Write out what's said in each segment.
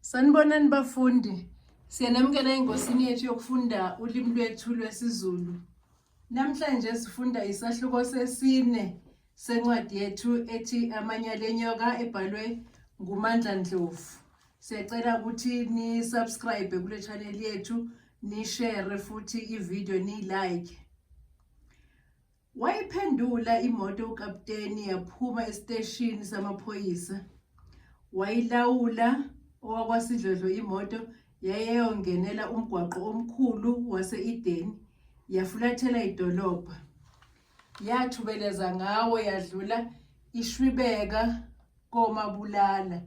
Sanibonani bafundi. Siyanamukela engosini yethu yokufunda ulimi lwethu lwesiZulu. Namhlanje sifunda isahluko sesine sencwadi yethu ethi Amanyala enyoka ebhalwe nguMandla Ndlovu. Siyacela ukuthi ni subscribe kule channel yethu, ni share futhi i-video ni like. Wayiphendula imoto ukapteni yaphuma esiteshini samaphoyisa. Wayilawula owakwasidlodlo imoto yayeyongenela umgwaqo omkhulu wase-Edeni yafulathela idolobha. Yathubeleza ngawo yadlula ishwibeka komabulala.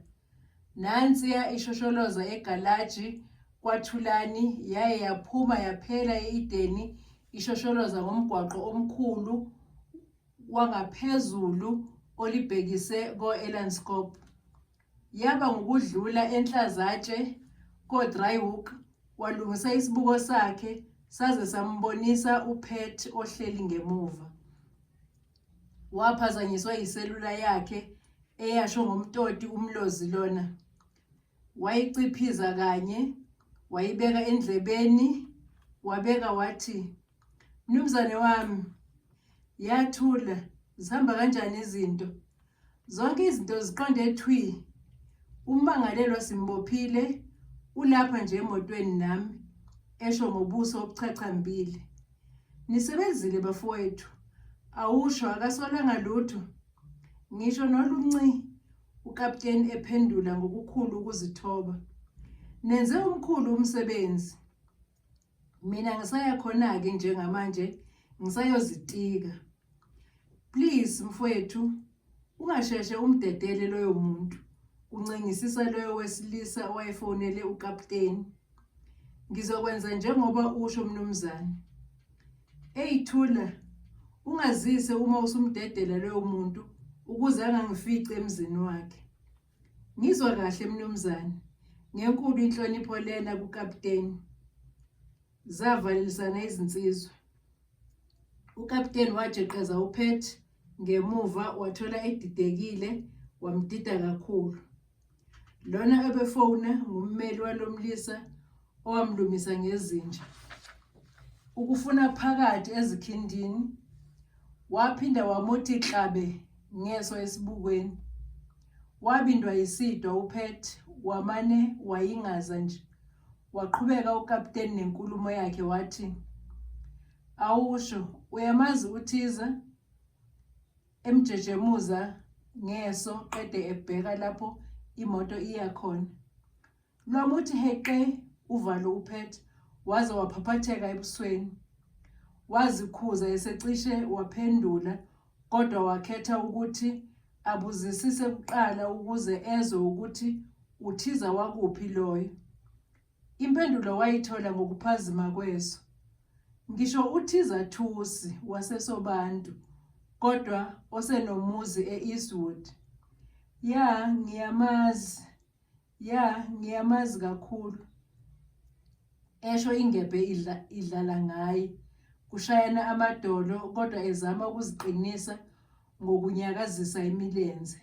Nansiya ishosholoza egalaji kwaThulani yaye yaphuma yaphela e-Ideni ishosholoza ngomgwaqo omkhulu wangaphezulu olibhekise ko-Elandskop. Yaba ngukudlula enhlazatshe koDryhoek walungisa isibuko sakhe saze sambonisa uPat ohleli ngemuva. Waphazanyiswa yiselula yakhe eyasho ngomtoti umlozi lona. Wayiciphiza kanye, wayibeka endlebeni, wabeka wathi, Mnumzane wami, yathula, zihamba kanjani izinto? Zonke izinto ziqonde thwi. Ummangalelwa simbophile ulapha nje emotweni nami, esho ngobuso obuchachambile. Nisebenzile bafowethu. Awusho akasolanga lutho. Ngisho nolunci ukapteni ephendula ngokukhulu ukuzithoba. Nenze umkhulu umsebenzi. mina ngisaya khona-ke njengamanje ngisayozitika please mfowethu ungasheshe umdedele loyo muntu kuncengisisa loyo wesilisa owayefonele ukapteni ngizokwenza njengoba usho mnumzane eyithula ungazise uma usumdedela loyo muntu ukuze angangifici emzini wakhe Ngizwa kahle mnumzane. Ngenkulu inhlonipho lena kukapteni. Zavalelisana izinsizwa. Ukapteni wajeqeza uPet ngemuva wathola edidekile wamdida kakhulu. Lona ebefona ngummeli walomlisa owamlumisa ngezinja ukufuna phakathi ezikhindini waphinda wamuthi klabe ngeso esibukweni wabindwa yisidwa uphet wamane wayingaza nje waqhubeka ukapteni nenkulumo yakhe wathi awusho uyamazi uthiza emjejemuza ngeso qede ebheka lapho imoto iya khona Lwamuthi heqe uvalo uphethe waze waphaphatheka ebusweni. Wazikhuza esecishe waphendula kodwa wakhetha ukuthi abuzisise kuqala ukuze ezwe ukuthi uthiza wakuphi loyo. Impendulo wayithola ngokuphazima kweso. Ngisho uthiza Thusi waseSobantu kodwa osenomuzi e-Eastwood. Ya ngiyamazi ya ngiyamazi kakhulu esho ingebhe idla idlala ngaye kushayana amadolo kodwa ezama ukuziqinisa ngokunyakazisa imilenze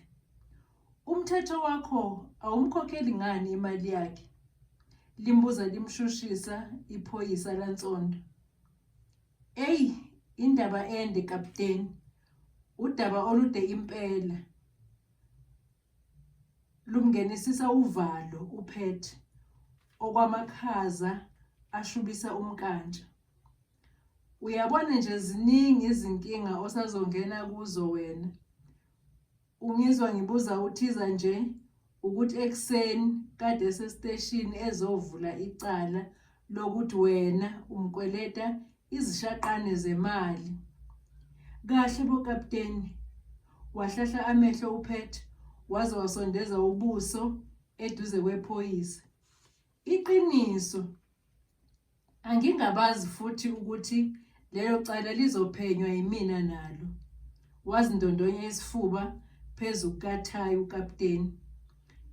umthetho wakho awumkhokheli ngani imali yakhe limbuza limshushisa iphoyisa lantsondo eyi indaba ende kapteni udaba olude impela Lumngenisisa uvalo uPet okwamakhaza ashubisa umkantsha. Uyabona nje ziningi izinkinga osazongena kuzo wena. Ungizwa ngibuza uthiza nje ukuthi ekuseni kade esesiteshini ezovula icala lokuthi wena umkweleta izishaqane zemali. Kahle bo kapteni. Wahlahla amehlo uPet waze wasondeza ubuso eduze kwephoyisa. Iqiniso. Angingabazi futhi ukuthi lelo cala lizophenywa yimina nalo. Wazindondonya isifuba phezu kukathayi ukapteni.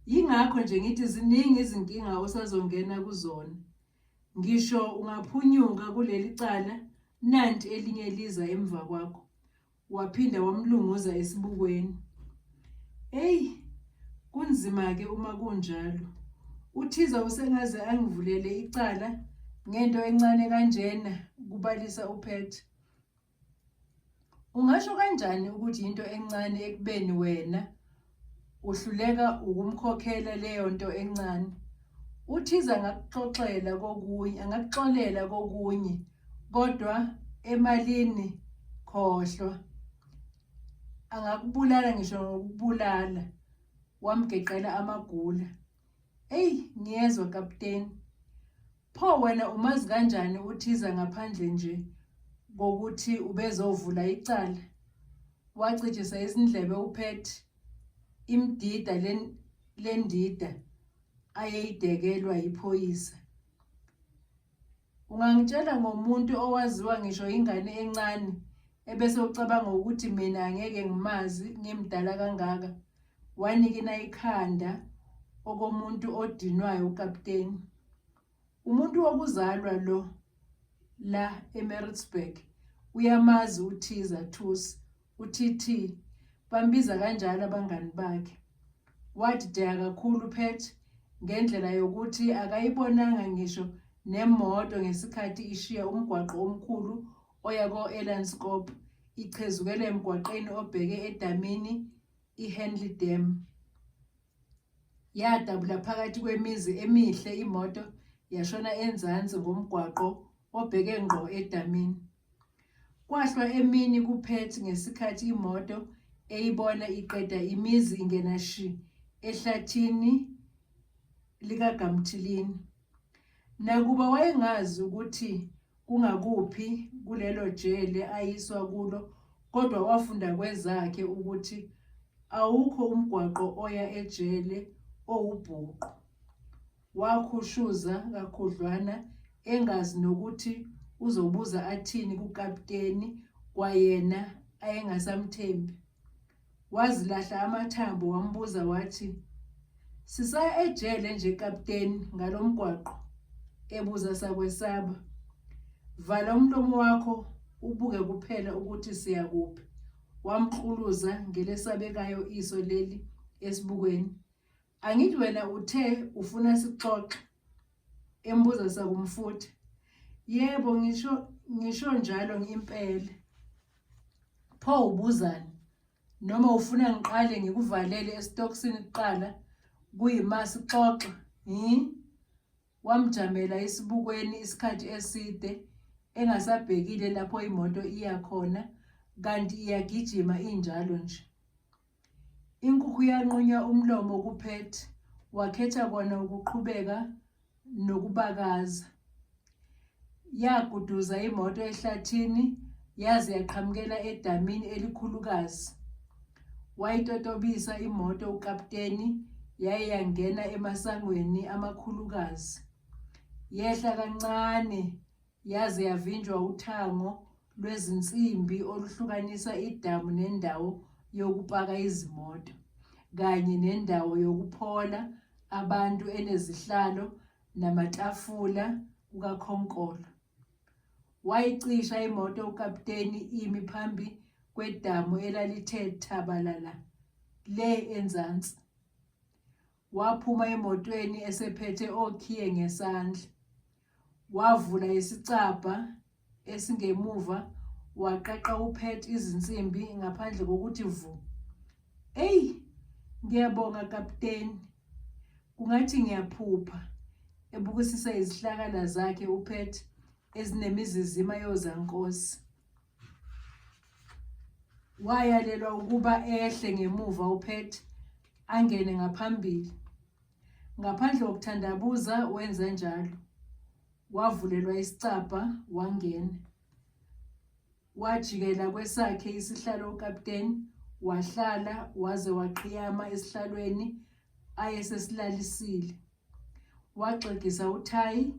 Yingakho nje ngithi ziningi izinkinga osazongena kuzona. Ngisho ungaphunyuka kuleli cala nanti elinye liza emva kwakho. Waphinda wamlunguza esibukweni. Eyi, kunzima-ke uma kunjalo. UThiza usengaze angivulele icala ngento encane kanjena, kubalisa uPet. Ungasho kanjani ukuthi into encane ekubeni wena uhluleka ukumkhokhela leyo nto encane? UThiza angakuxoxela kokunye, angakuxolela kokunye kodwa emalini khohlwa. Angakubulala ngisho ngokubulala wamgeqela amagula. Eyi ngiyezwa kapteni. Pho wena umazi kanjani uthiza ngaphandle nje kokuthi ubezovula icala? Wacijisa izindlebe uPet imdida lendida ayeyidekelwa yiphoyisa. Ungangitshela ngomuntu owaziwa ngisho ingane encane ebese ucabanga ukuthi mina angeke ngimazi ngimdala kangaka wanikina ikhanda okomuntu odinwayo ukapteni umuntu wokuzalwa lo la eMaritzburg uyamazi uthiza thusi UTT bambiza kanjalo abangani bakhe. Wadideka kakhulu uPet ngendlela yokuthi akayibonanga ngisho nemoto ngesikhathi ishiya umgwaqo omkhulu oya ko-Elandskop ichezukela emgwaqeni obheke edamini i-Henley Dam. Yadabula phakathi kwemizi emihle imoto yashona enzansi ngomgwaqo obheke ngqo edamini. Kwahlwa emini kuPerth ngesikhathi imoto eyibona iqeda imizi ingena shi ehlathini likaGamthilini. Nakuba wayengazi ukuthi kungakuphi kulelo jele ayiswa kulo kodwa wafunda kwezakhe ukuthi awukho umgwaqo oya ejele owubhuqu. Wakhushuza kakhudlwana engazi nokuthi uzobuza athini kukapteni kwayena ayengasamthembi. Wazilahla amathambo wambuza wathi, Sisaya ejele nje kapteni ngalo mgwaqo? ebuza sakwesaba. Vala umlomo wakho ubuke kuphela ukuthi siya kuphi. Wamqhuluza ngelesabekayo iso leli esibukweni. Angithi wena uthe ufuna sixoxe embuza sakumfuthi. Yebo ngisho ngisho njalo impela. Pho ubuzani? Noma ufuna ngiqale ngikuvalele esitokisini kuqala kuyima sixoxe? Hi? Wamjamela isibukweni isikhathi eside engasabhekile lapho imoto iya khona kanti iyagijima injalo nje. Inkukhu yanqunya umlomo kuPet, wakhetha kona ukuqhubeka nokubakaza. Yaguduza imoto ehlathini yaze yaqhamukela edamini elikhulukazi. Wayitotobisa imoto ukapteni yaye yangena emasangweni amakhulukazi. Yehla kancane Yaze yavinjwa uthango lwezinsimbi oluhlukanisa idamu nendawo yokupaka izimoto kanye nendawo yokuphola abantu enezihlalo namatafula kukakhonkolo. Wayicisha imoto ukapteni imi phambi kwedamu elalithe thabalala le enzansi. Waphuma emotweni esephethe okhiye ngesandla. Wavula isicabha esingemuva waqaqa uPet izinsimbi ngaphandle kokuthi vu. Eyi, ngiyabonga kapteni. Kungathi ngiyaphupha. Ebukisisa izihlakala zakhe uPet ezinemizizima yozankosi. wayalelwa ukuba ehle ngemuva uPet angene ngaphambili. Ngaphandle kokuthandabuza wenze njalo. Wavulelwa isicabha wangena. Wajikela kwesakhe isihlalo ukapteni wahlala waze waqhiyama esihlalweni ayesesilalisile. waxegisa uthayi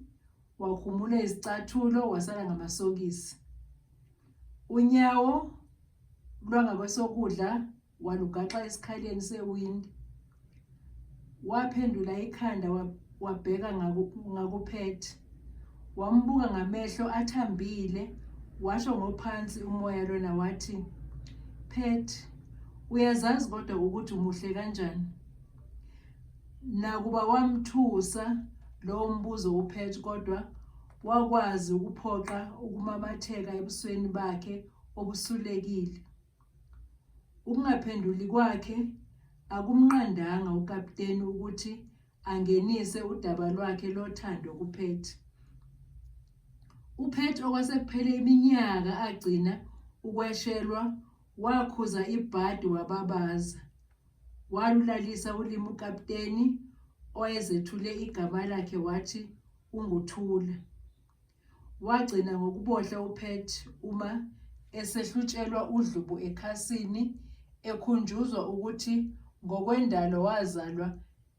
wakhumula izicathulo wasala ngamasokisi unyawo lwangakwesokudla walugaxa esikhaleni sewindi waphendula ikhanda wabheka ngakuphethe wambuka ngamehlo athambile washo ngophansi umoya lona wathi phethe uyazazi kodwa ukuthi umuhle kanjani Nakuba wamthusa lowo mbuzo uPatch kodwa wakwazi ukuphoqa ukumamatheka ebusweni bakhe obusulekile. Ukungaphenduli kwakhe akumnqandanga ukapteni ukuthi angenise udaba lwakhe lothando kuPatch. UPatch okwasekuphele iminyaka agcina ukweshelwa wakhuza ibhadi wababaza Walulalisa ulimi ukaputeni owayezethule igama lakhe wathi unguThula. Wagcina ngokubohla uPet uma esehlutshelwa udlubu ekhasini ekhunjuzwa ukuthi ngokwendalo wazalwa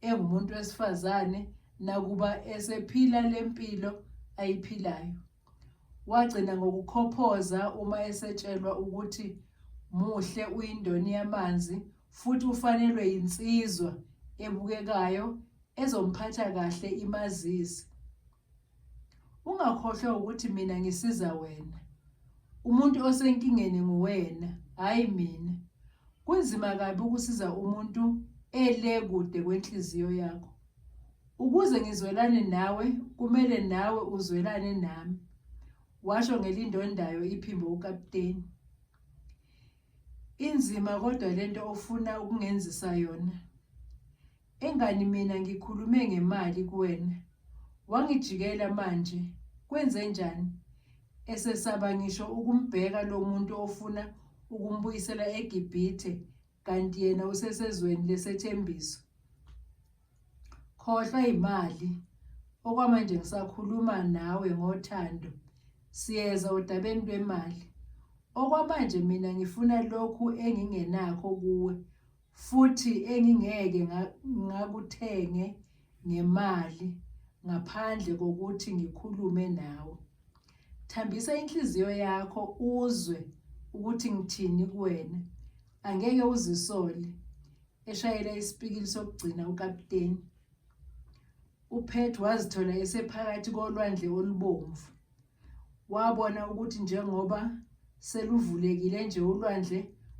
engumuntu wesifazane nakuba esephila lempilo ayiphilayo. Wagcina ngokukhophoza uma esetshelwa ukuthi muhle uyindoni yamanzi futhi ufanelwe yinsizwa ebukekayo ezomphatha kahle imazise. Ungakhohlwa ukuthi mina ngisiza wena. Umuntu osenkingeni nguwena, hhayi mina. Kunzima kabi ukusiza umuntu ele kude kwenhliziyo yakho. Ukuze ngizwelane nawe kumele nawe uzwelane nami, washo ngelindondayo iphimbo ukapteni. Inzima kodwa lento ofuna ukungenzisa yona. Engani mina ngikhulume ngemali kuwena. Wangijikela manje, kwenze njani? Esesaba ngisho ukumbheka lo muntu ofuna ukumbuyisela eGibhithe kanti yena usesezweni lesethembiso. Khohlwa imali. Okwamanje ngisakhuluma nawe ngothando. Siyeza odabeni lwemali. Okwamanje mina ngifuna lokhu engingenakho kuwe futhi engingeke ngakuthenge ngemali ngaphandle kokuthi ngikhulume nawe. Thambisa inhliziyo yakho uzwe ukuthi ngithini kuwena. Angeke uzisole. eshayela isipikili sokugcina ukapteni upet wazithola esephakathi kolwandle olubomvu wabona ukuthi njengoba seluvulekile nje ulwandle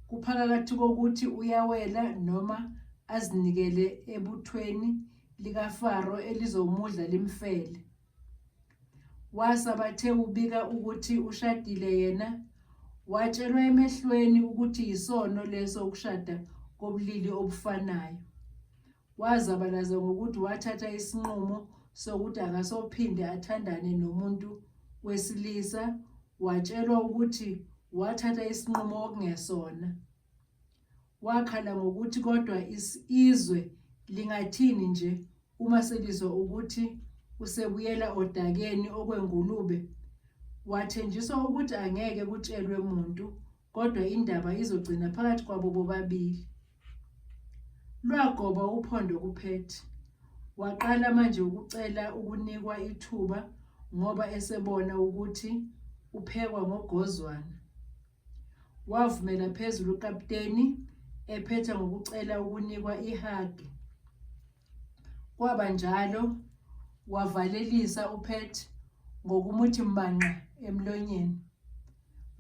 kuphakathi kokuthi uyawela noma azinikele ebuthweni likafaro elizomudla limfele Wasabathe ubika ukuthi ushadile yena watshelwa emehlweni ukuthi yisono leso ukushada kobulili obufanayo. Wazabalaza ngokuthi wathatha isinqumo sokuthi akasophinde athandane nomuntu wesilisa watshelwa ukuthi wathatha isinqumo okungesona. Wakhala ngokuthi kodwa izwe lingathini nje uma selizwa ukuthi usebuyela odakeni okwengulube. Wathenjiswa ukuthi angeke kutshelwe muntu kodwa indaba izogcina phakathi kwabo bobabili. Lwagoba uphondo kuphethe. Waqala manje ukucela ukunikwa ithuba ngoba esebona ukuthi uphekwa ngogozwana. Wavumela phezulu ukaputeni ephetha ngokucela ukunikwa ihagi. Kwaba njalo wavalelisa uPet ngokumuthi mbanqa emlonyeni.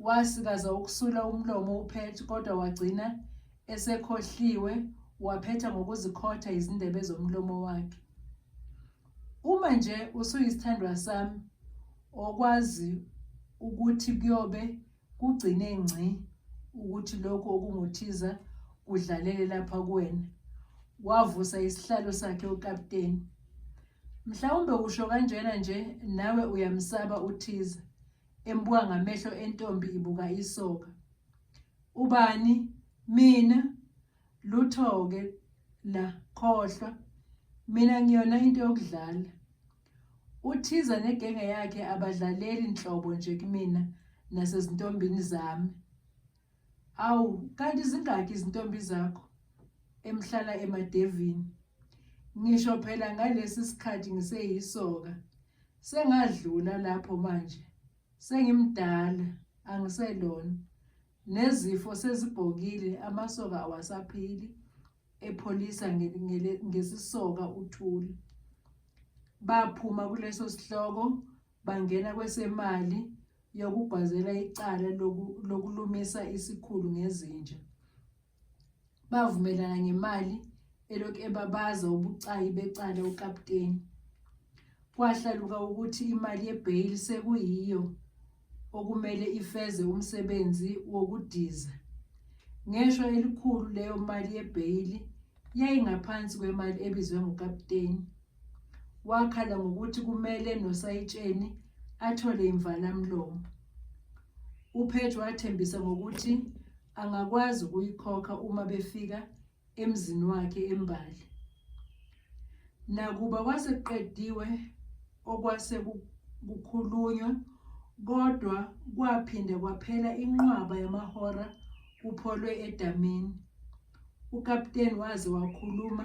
Wasikaza ukusula umlomo uPet kodwa wagcina esekhohliwe waphetha ngokuzikhotha izindebe zomlomo wakhe. Uma nje usuyisithandwa sami okwazi ukuthi kuyobe kugcine ngci ukuthi lokhu okunguthiza kudlalele lapha kuwena wavusa isihlalo sakhe ukapteni mhlawumbe usho kanjena nje nawe uyamsaba uthiza embuka ngamehlo entombi ibuka isoka ubani mina lutho ke la khohlwa mina ngiyona into yokudlala uthiza negenge yakhe abadlaleli nhlobo nje kumina nasezintombini zami awu kanti zingaki izintombi zakho emhlala emadevini ngisho phela ngalesi sikhathi ngiseyisoka sengadlula lapho manje sengimdala angiselona Nezifo sezibhokile amasoka awasaphili epholisa ngesisoka uthuli. Baphuma kuleso sihloko bangena kwesemali yokugwazela icala lokulumisa isikhulu ngezinja. bavumelana ngemali elokhu ebabaza ubucayi becala ukapteni. Kwahlaluka ukuthi imali yebheyili sekuyiyo okumele ifeze umsebenzi wokudiza. Ngeshwa elikhulu leyo mali yebheyili yayingaphansi kwemali ebizwe ngukapteni. Wakhala ngokuthi kumele nosayitsheni athole imvalamlomo. UPage wathembisa ngokuthi angakwazi ukuyikhokha uma befika emzini wakhe embali nakuba kwaseqediwe okwase kukhulunywa kodwa kwaphinde kwaphela inqwaba yamahora kupholwe edamini ukapteni waze wakhuluma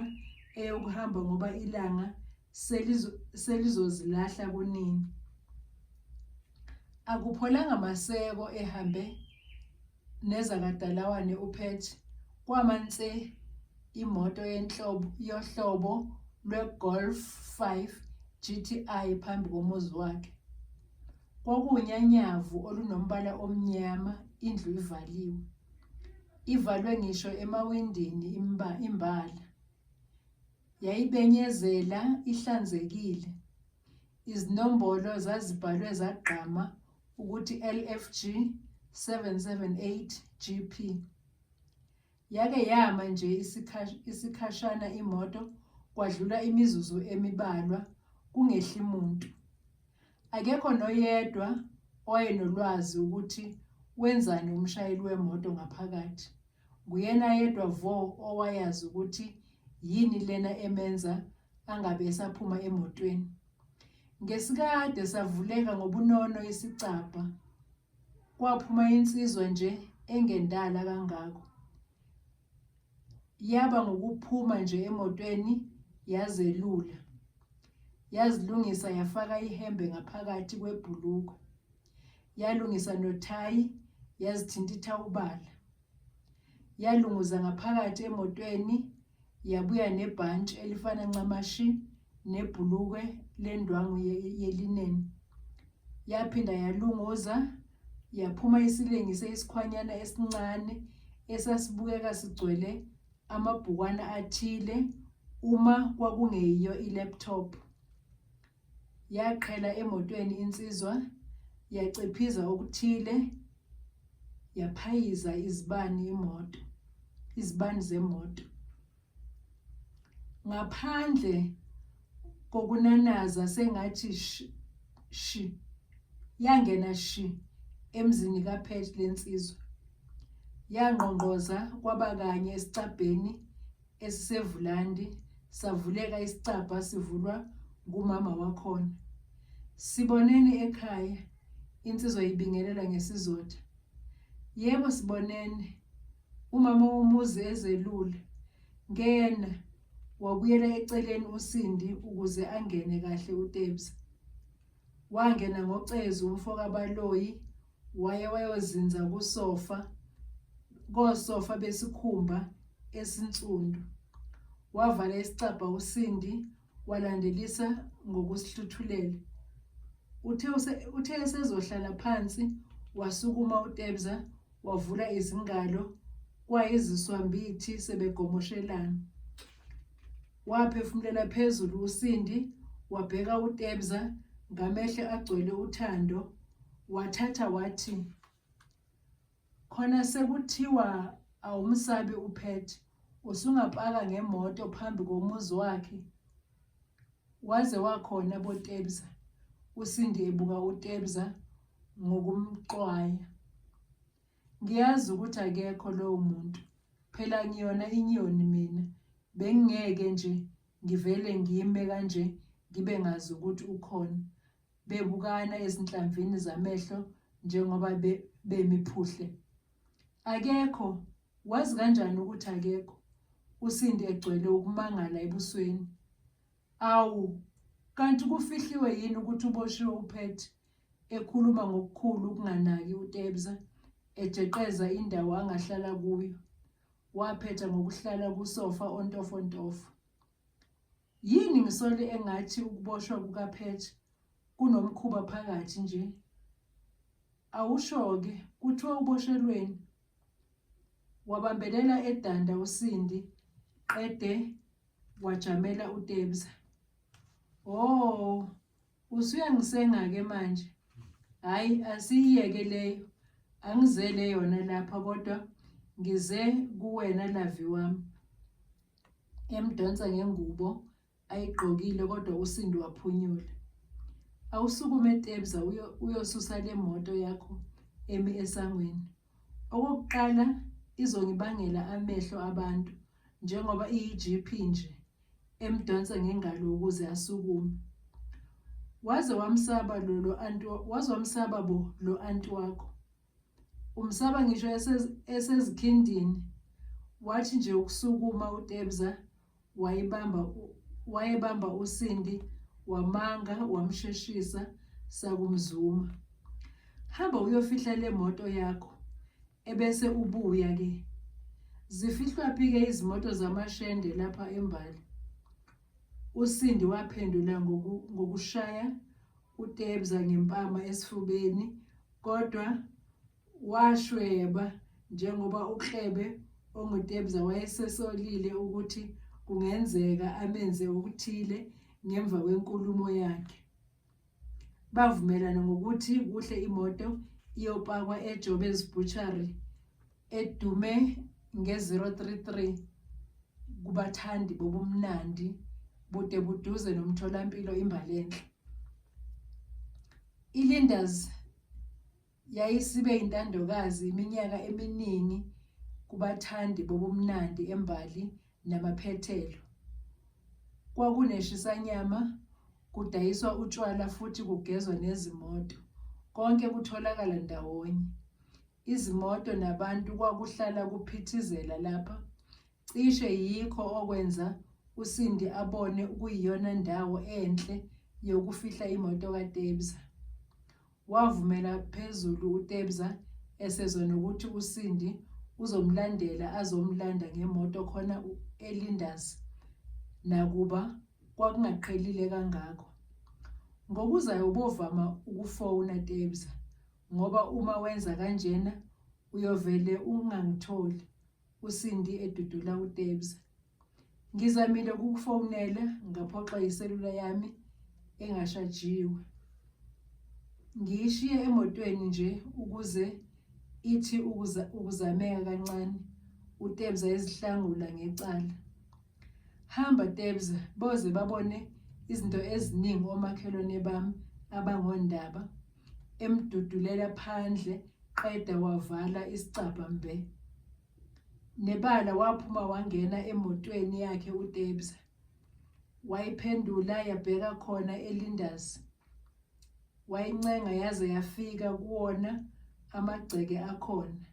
eyokuhamba ngoba ilanga selizozilahla kunini. Akupholanga maseko ehambe nezakadalawane uPet kwama nse imoto yenhlobo yohlobo lweGolf 5 GTI phambi komuzi wakhe. Kwakuwunyanyavu olunombala omnyama indlu ivaliwe. Ivalwe ngisho emawindini imbala. Yayibenyezela ihlanzekile. Izinombolo zazibhalwe zagqama ukuthi LFG 778 GP. Yake yama nje isikhashana imoto kwadlula imizuzu emibalwa kungehli muntu. Akekho noyedwa owayenolwazi ukuthi wenzani umshayeli wemoto ngaphakathi. Nguyena yedwa vo owayazi ukuthi yini lena emenza angabe esaphuma emotweni. Ngesikade savuleka ngobunono isicabha. Kwaphuma insizwa nje engendala kangako. Yaba ngukuphuma nje emotweni yazelula. Yazilungisa yafaka ihembe ngaphakathi kwebhulukwe. Yalungisa nothayi yazithintitha ubala. Yalunguza ngaphakathi emotweni yabuya nebhantshi elifana ncamashi nebhulukwe lendwangu yelineni. Yaphinda yalunguza, yaphuma isilengise isikhwanyana esincane esasibukeka sigcwele amabhukwana athile uma kwakungeyiyo i-laptop. Yaqhela emotweni insizwa, yaciphiza okuthile, yaphayiza izibani imoto, izibani zemoto. ngaphandle kokunanaza sengathi shi, shi yangena shi emzini kaPet lensizwa yangqongqoza kwaba kanye esicabheni esisevulandi savuleka isicabha sivulwa ngumama wakhona sibonene ekhaya insizwa ibingelela ngesizotha Yebo sibonene. Umama womuzi ezelule. Ngena. Wabuyela eceleni uSindi ukuze angene kahle uTebza. Wangena ngocezu umfoka Baloyi waye wayozinza kusofa kosofa besikhumba esinsundu. Wavala isicabha uSindi Walandelisa ngokusihluthulela. Uthe use- uthe esezohlala phansi wasukuma uTebza wavula izingalo kwayiziswambithi sebegomoshelana. Waphefumulela phezulu uSindi wabheka uTebza ngamehlo agcwele uthando wathatha wathi khona sekuthiwa awumsabi uphet usungapaka ngemoto phambi komuzi wakhe waze wakhona botebza usindi ebuka utebza ngokumxwaya ngiyazi ukuthi akekho lowo muntu phela ngiyona inyoni mina bengingeke nje ngivele ngime kanje ngibe ngazi ukuthi ukhona bebukana ezinhlamvini zamehlo njengoba be, bemi phuhle. Akekho, wazi kanjani ukuthi akekho? USindi egcwele ukumangala ebusweni. Awu, kanti kufihliwe yini ukuthi uboshiwe uPet? ekhuluma ngokukhulu ukunganaki uTebza, ejeqeza indawo angahlala kuyo. Waphetha ngokuhlala kusofa ontofontofo. Yini ngisole engathi ukuboshwa kukaPatch kunomkhuba phakathi nje? Awusho-ke kuthiwa uboshelweni? Wabambelela edanda uSindi qede wajamela uTebza. Oh, Usuyangisenga ke manje. Hayi asiyeke leyo. Angizele yona lapha kodwa ngize kuwena lavi wami. Emdonsa ngengubo ayigqokile kodwa uSindi waphunyula. Awusukume Tebza uyosusa le moto yakho emi esangweni. Okokuqala izongibangela amehlo abantu njengoba iyi-GP nje emdonsa ngengalo ukuze asukume. Waze wamsaba lo lo anti waze wamsaba bo lo anti wakho. Umsaba ngisho esezikindini wathi nje ukusukuma uTebza wayebamba wayebamba uSindi wamanga wamsheshisa sakumzuma hamba uyofihla le moto yakho ebese ubuya ke zifihlwa phi ke izimoto zamashende lapha embali uSindi waphendula ngokushaya utebza ngempama esifubeni kodwa Washweba njengoba uKlebe ongutebza wayesesolile ukuthi kungenzeka amenze okuthile ngemva kwenkulumo yakhe. Bavumelana ngokuthi kuhle imoto iyopakwa eJobes Butchery edume nge-033 kubathandi bobumnandi bude buduze nomtholampilo imbalenhle. ILinders Yayisibe intandokazi iminyaka eminingi kubathandi bobumnandi embali namaphethelo. Kwakuneshisanyama, kudayiswa utshwala futhi kugezwa nezimoto. Konke kutholakala ndawonye. Izimoto nabantu kwakuhlala kuphithizela lapha. Cishe yikho okwenza uSindi abone ukuyiyona ndawo enhle yokufihla imoto kaTebza. Wavumela phezulu uTebza esezwa nokuthi uSindi uzomlandela azomlanda ngemoto khona eLinders nakuba kwakungaqhelile kangako. Ngokuzayo ubovama ukufona Tebza ngoba uma wenza kanjena uyovele ungangitholi. USindi edudula uTebs. Ngizamile ukukufonela ngaphoxa iselula yami engashajiwe. Ngiyishiye emotweni nje ukuze ithi ukuza ukuzameka kancane uTebza ezihlangula ngecala. Hamba Tebza boze babone izinto eziningi omakhelwane bami abangondaba. emdudulela phandle qeda wavala isicabha mbe. Nebala waphuma wangena emotweni yakhe uTebza. Wayiphendula yabheka khona eLindas. Wayincenga yaze yafika kuwona amagceke akhona.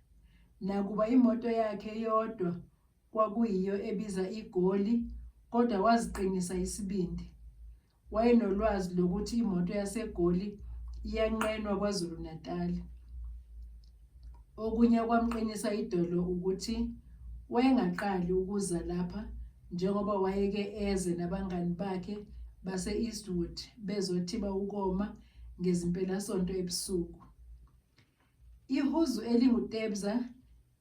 Nakuba imoto yakhe yodwa kwakuyiyo ebiza igoli kodwa waziqinisa isibindi. Wayenolwazi lokuthi imoto yaseGoli iyanqenwa KwaZulu-Natal. Okunye okwamqinisa idolo ukuthi wayengaqali ukuza lapha njengoba wayeke eze nabangani bakhe base-Eastwood bezothiba ukoma ngezimpelasonto ebusuku. Ihuzu elinguTebza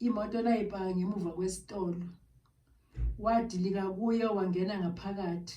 imoto layipaka ngemuva kwesitolo. Wadilika kuyo wangena ngaphakathi.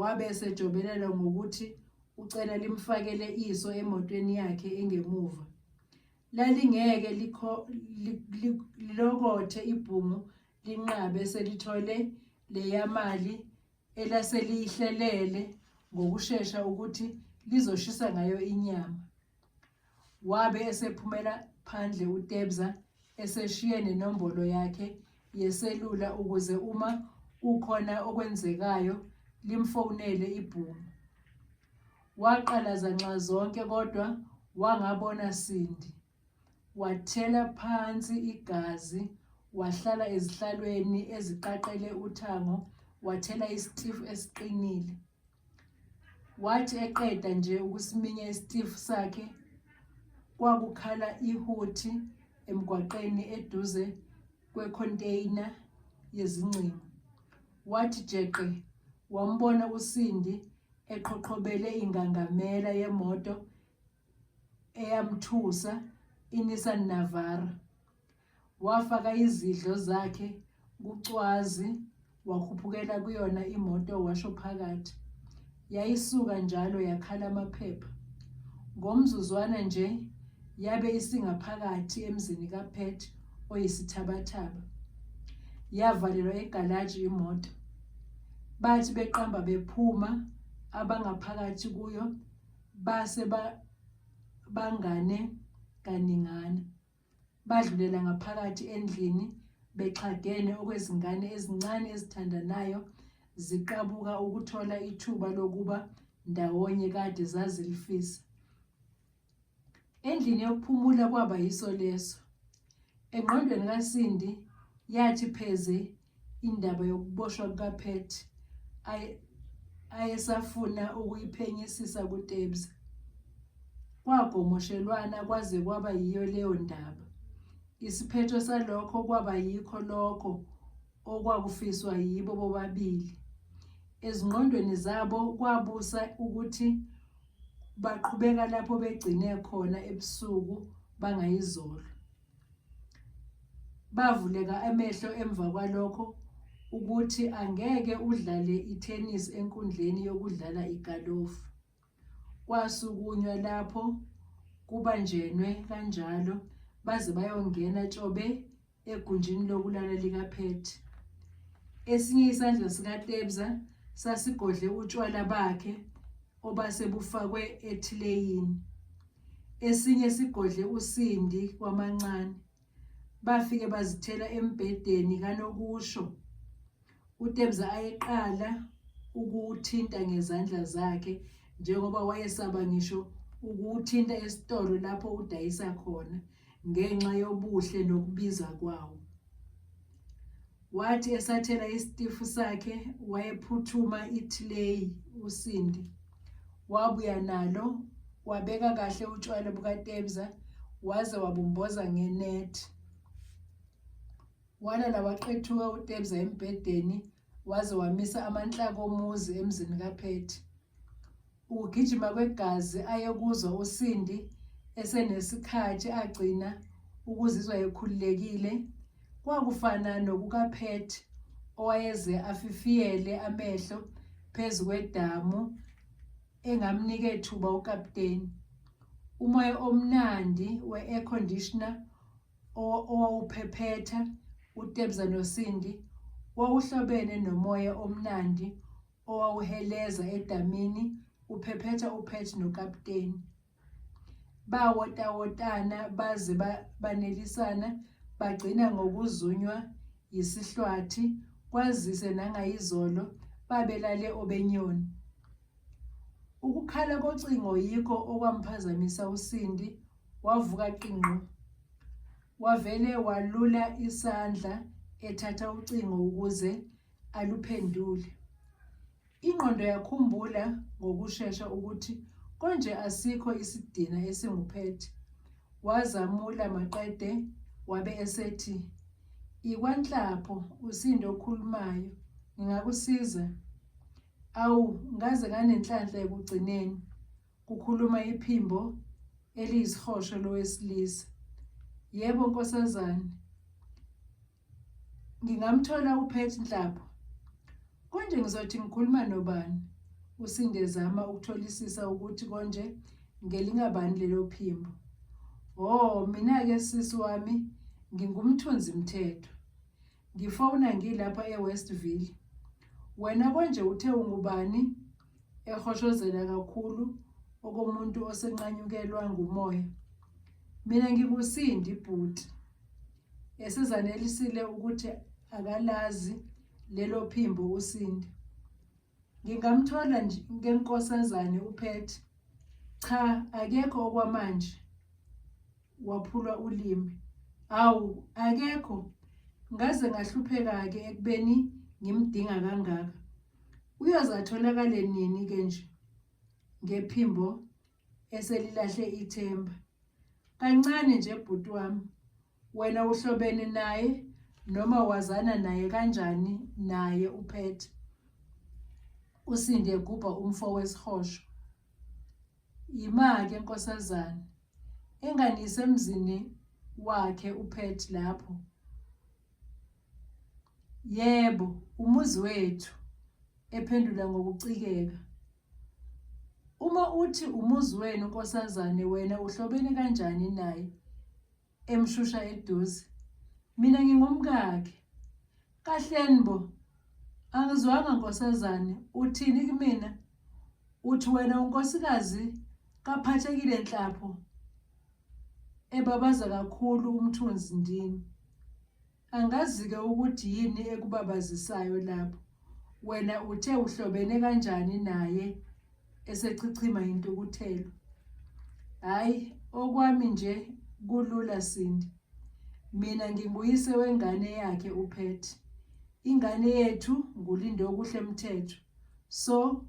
Wabe esejobelela ngokuthi ucela limfakele iso emotweni yakhe engemuva. Lalingeke likho li- li- lilokothe ibhungu linqabe selithole leya mali elaseliyihlelele ngokushesha ukuthi lizoshisa ngayo inyama. Wabe esephumela phandle uTebza eseshiye nenombolo yakhe yeselula ukuze uma kukhona okwenzekayo limfonele ibhungu. Waqalaza nxa zonke kodwa wangabona Sindi. Wathela phansi igazi, wahlala ezihlalweni eziqaqele uthango, wathela isitifu esiqinile. Wathi eqeda nje ukusiminya isitifu sakhe kwakukhala ihuthi emgwaqeni eduze kwekhontaina yezingcingo. Wathi jeqe wambona uSindi eqhoqhobele ingangamela yemoto eyamthusa iNissan Navara. Wafaka izidlo zakhe kucwazi wakhuphukela kuyona imoto washo phakathi. Yayisuka njalo yakhala amaphepha. Ngomzuzwana nje yabe isingaphakathi emzini kaPet oyisithabathaba. Yavalelwa egalaji imoto. Bathi beqamba bephuma abangaphakathi kuyo base bangane kaningana. Badlulela ngaphakathi endlini bexhagene okwezingane ezincane ezithandanayo ziqabuka ukuthola ithuba lokuba ndawonye kade zazilifisa. Endlini yokuphumula kwaba yiso leso. Engqondweni kaSindi yathi pheze indaba yokuboshwa kukaPet ayesafuna ukuyiphenyisisa kuTebza. Kwagomoshelwana kwaze kwaba yiyo leyo ndaba. Isiphetho salokho kwaba yikho lokho okwakufiswa yibo bobabili. Ezingqondweni zabo kwabusa ukuthi baqhubeka lapho begcine khona ebusuku bangayizolo. Bavuleka amehlo emva kwalokho ukuthi angeke udlale i-tennis enkundleni yokudlala igalofu. Kwasukunywa lapho kubanjenwe kanjalo baze bayongena tshobe egunjini lokulala likaphethe. Esinye isandla sikaTebza sasigodle utshwala bakhe obase bufakwe ethileyini esinye sigodle usindi kwamancane bafike bazithela embhedeni kanokusho uTebza ayeqala ukuwuthinta ngezandla zakhe njengoba wayesaba ngisho ukuwuthinta esitolo lapho udayisa khona ngenxa yobuhle nokubiza kwawo. Wathi esathela isitifu sakhe wayephuthuma ithileyi uSindi wabuya nalo wabeka kahle utshwala bukaTebza waze wabumboza ngenethi. Walala waqethuka uTebza embhedeni waze wamisa amanhlaka omuzi emzini kaPhethi. Ukugijima kwegazi ayekuzwa uSindi esenesikhathi agcina ukuzizwa ekhululekile kwakufana nokukaPet owayeze afifiyele amehlo phezu kwedamu engamnika ethuba ukapteni umoya omnandi we-air conditioner owawuphephetha uTebza noSindi wawuhlobene nomoya omnandi owawuheleza edamini uphephetha uPet nokapteni. Bawotawotana baze ba- banelisana bagcina ngokuzunywa yisihlwathi kwazise nangayizolo babelale obenyoni. Ukukhala kocingo yikho okwamphazamisa uSindi wavuka qingqo. Wavele walula isandla ethatha ucingo ukuze aluphenduli. Ingqondo yakhumbula ngokushesha ukuthi konje asikho isidina esinguphethe. Wazamula maqede wabe esethi, Ikwanhlapho usindo okhulumayo, ngingakusiza? Awu, ngaze nganenhlanhla ekugcineni, kukhuluma iphimbo eliyisihosho lowesilisa. Yebo nkosazane, Ngingamthola uPet Nhlapho. Konje ngizothi ngikhuluma nobani? Usinde ezama ukutholisisa ukuthi konje ngelingabani lelo phimbo. Ho, mina-ke sisi wami ngingumthunzi mthetho. Ngifowuna ngilapha eWestville. Wena konje uthe ungubani? ehoshozela kakhulu okomuntu osenqanyukelwa ngumoya mina ngikusindi bhuti esizanelisile ukuthi akalazi lelo phimbo usindi ngingamthola nje ngenkosazane uphethe cha akekho okwamanje waphulwa ulimi awu akekho ngaze ngahlupheka-ke ekubeni ngimdinga kangaka Uyoze atholakale nini-ke nje ngephimbo eselilahle ithemba? Kancane nje bhuti wami, wena uhlobene naye noma wazana naye kanjani naye uphethe usinde gubha umfo wesihosho yimake nkosazana engani isemzini wakhe uphethe lapho Yebo, umuzi wethu, ephendula ngokucikeka. Uma uthi umuzi wenu nkosazane wena uhlobene kanjani naye? emshusha eduze. Mina ngingumkakhe. Kahleni bo, angizwanga nkosazane, uthini kumina? Uthi wena unkosikazi kaphathekile nhlapho ebabaza kakhulu umthunzi ndini. Angazi-ke ukuthi yini ekubabazisayo lapho. Wena uthe uhlobene kanjani naye esechichima intukuthelo. Hhayi, okwami nje kulula Sindi. Mina nginguyise wengane yakhe uPhetty. Ingane yethu nguLindokuhle Mthethwa. So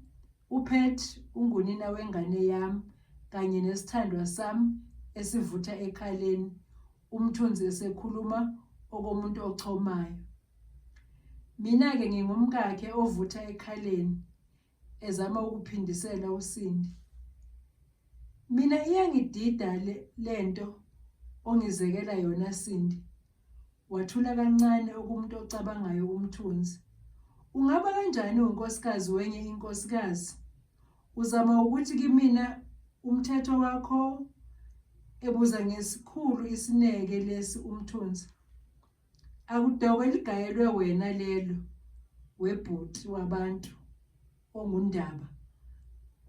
uPet ungunina wengane yam kanye nesithandwa sam esivutha ekhaleni umthunzi esekhuluma okomuntu ochomayo. Mina-ke ngingumkakhe ovutha ekhaleni ezama ukuphindisela uSindi. Mina iyangidida le, le nto ongizekela yona Sindi. Wathula kancane okumuntu ocabangayo umthunzi. Ungaba kanjani unkosikazi wenye inkosikazi? Uzama ukuthi kimina umthetho wakho ebuza ngesikhulu isineke lesi umthunzi. Akudokwe ligayelwe wena lelo webhuti wabantu. onguNdaba.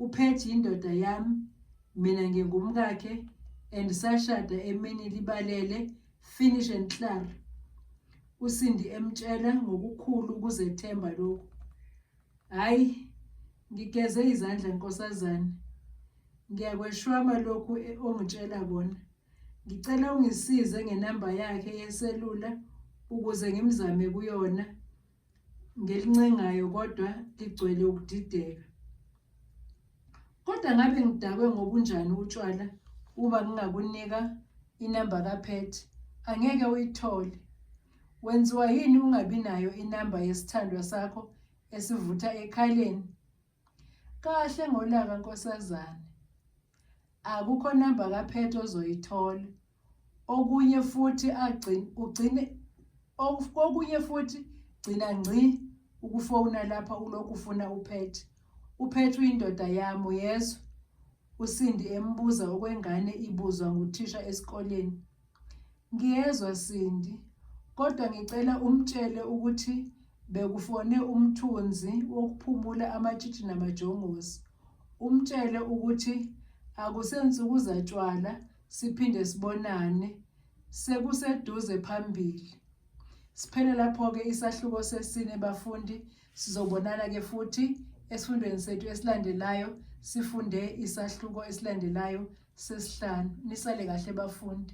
UPetty yindoda yami, mina ngingumkakhe and sashada emini libalele finish and clar. USindi emtshela ngokukhulu ukuzethemba lokhu. Hayi ngigeze izandla nkosazane. Ngiyakweshwama lokhu e-, ongitshela kona. Ngicela ungisize ngenamba yakhe yeselula ukuze ngimzame kuyona. ngelincengayo kodwa ligcwele ukudideka kodwa ngabe ngidakwe ngobunjani utshwala uma ngingakunika inamba kapet angeke uyithole wenziwa yini ungabi nayo inamba yesithandwa sakho esivutha ekhaleni Kahle ngolaka nkosazane. Akukho number kaphethe ozoyithola. Okunye futhi agcine ugcine okunye futhi gcina ngci ukufona lapha ulokhu ufuna uphethe. Uphethe uyindoda yami uyezwa. USindi embuza okwengane ibuzwa nguthisha esikoleni. Ngiyezwa Sindi, kodwa ngicela umtshele ukuthi bekufone umthunzi wokuphumula amatshitshi namajongosi. Umtshele ukuthi akusensuku zatshwala siphinde sibonane sekuseduze phambili. Siphele lapho-ke isahluko sesine bafundi sizobonana-ke futhi esifundweni sethu esilandelayo sifunde isahluko esilandelayo sesihlanu nisale kahle bafundi